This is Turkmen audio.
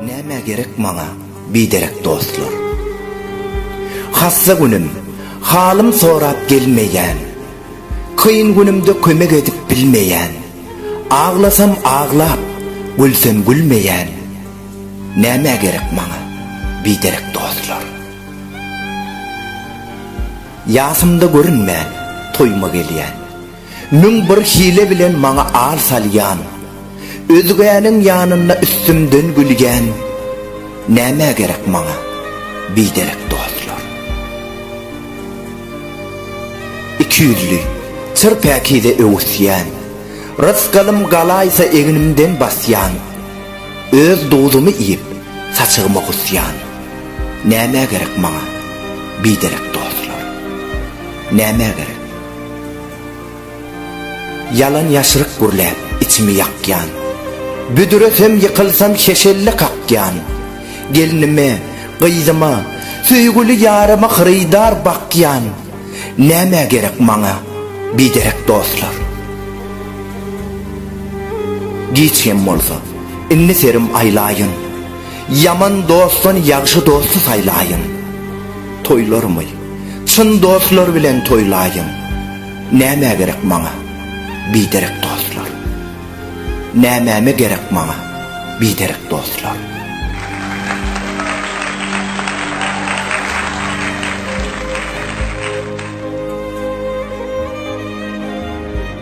Nämä gerek maňa biderek dostlar? Hassa günüm, halym sorap gelmeýän, Kyn günümde kömek edip bilmeýän, Aglasam aglap, gülsem gülmeýän, Nämä gerek maňa biderek dostlar? Ýasymda görünmän, toýuma gelýän. Müň bir hile bilen maňa al salýan. Özgäniň ýanynda üstümden gülýän. Nämä gerek maňa biderek dostlar? Ikiýüzli, çyr päkize öwüsýän. Rysgalym galaýsa egnimden basýan. Öz duzumy iýip, saçagyma gusýan. Nämä gerek maňa biderek dostlar? Nämä gerek? Ýalan ýaşryk gürläp içimi ýakýan, Büdüresem ýykylsam şeşelle kakýan, Gelnime, gyzyma, söýgüli ýaryma Hyrydar bakýan, Nämä gerek maňa biderek dostlar? Giç hem bolsa, indi serim aýlaýyn, Ýaman dostdan ýagşy dosty saýlaýyn. Toýlarymy çyn dostlar bilen toýlaýyn. Nämä gerek maňa biderek dostlar? Nämäme gerek maňa biderek dostlar?